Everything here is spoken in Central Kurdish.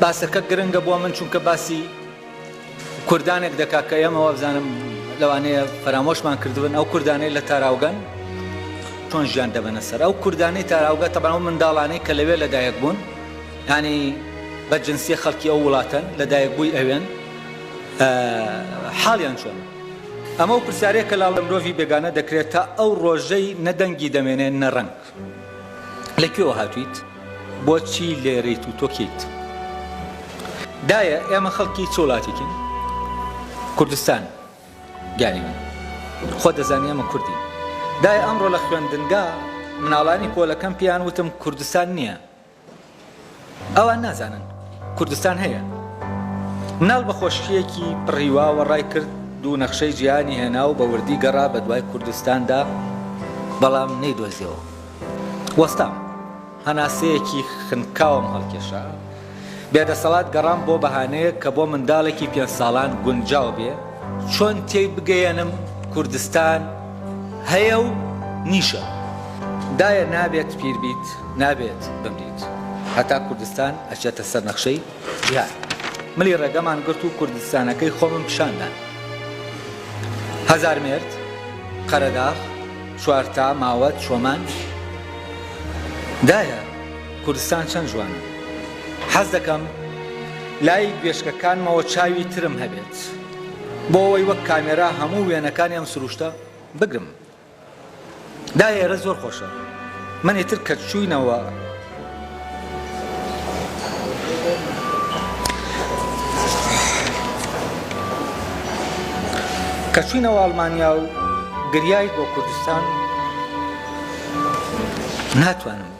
باسەکە گرنگە بۆ من چونکە باسی کوردانێک دەکا کە ئێمە وابزانم لەوانەیە فەرامۆشمان کردبن ئەو کوردانەی لە تاراوگەن چۆن ژیان دەبەنە سەر ئەو کوردانەی تاراوگە تەبان و منداڵانەی کە لەوێ لەدایک بوون ینی بە جنسیە خەڵکی ئەو وڵاتەن لەدایک بووی ئەوێن حاڵیان چۆن ئەمە و پرسیارێک کە لاڵە مرۆڤی بێگانە دەکرێت تا ئەو ڕۆژەی نەدەنگی دەمێنێ نەڕەنگ لە کوێوە هاتویت بۆچی لێرەیت و تۆ کێیت؟ دایە ئێمە خەڵکی چ وڵاتێکین کوردستان گیانی من خۆ دەزانی ئەمە کوردین دای ئەمڕۆ لە خوێندنگا مناڵانی پۆلەکەم پێیان وتم کوردستان نییە ئەوان نازانن کوردستان هەیە. مناڵ بە خۆشییەکی پڕ هیواوە ڕای کرد، دوو نەخشەی جیهانی هێنا و بە وردی گەڕا بە دوای کوردستاندا، بەڵام نەیدۆزیەوە. وەستام. هەناسەیەکی خنکاوم هەڵکێشا. بێدەسەڵات گەڕام بۆ بەهانەیەک کە بۆ منداڵێکی پێنج ساڵان گونجاو بێ، چۆن تێی بگەیەنم کوردستان، هەیە و نیشە دایە نابێت پیر بیت نابێت بمریت هەتا کوردستان ئەچێتە سەر نەخشەی جیهان ملی ڕێگەمان گرت و کوردستانەکەی خۆمم پیشاندان هەزار مێرد قەرەداغ چوارتا ماوەت چۆمان دایە کوردستان چەند جوانە حەز دەکەم لای گوێشکەکانمەوە چاوی ترم هەبێت بۆ ئەوەی وەک کامێرا هەموو وێنەکانی ئەم سروشتە بگرم دا ئێرە زۆر خۆشە من ئیتر کە چووینەوە کە چووینەوە ئەڵمانیا و گریایت بۆ کوردستان ناتوانم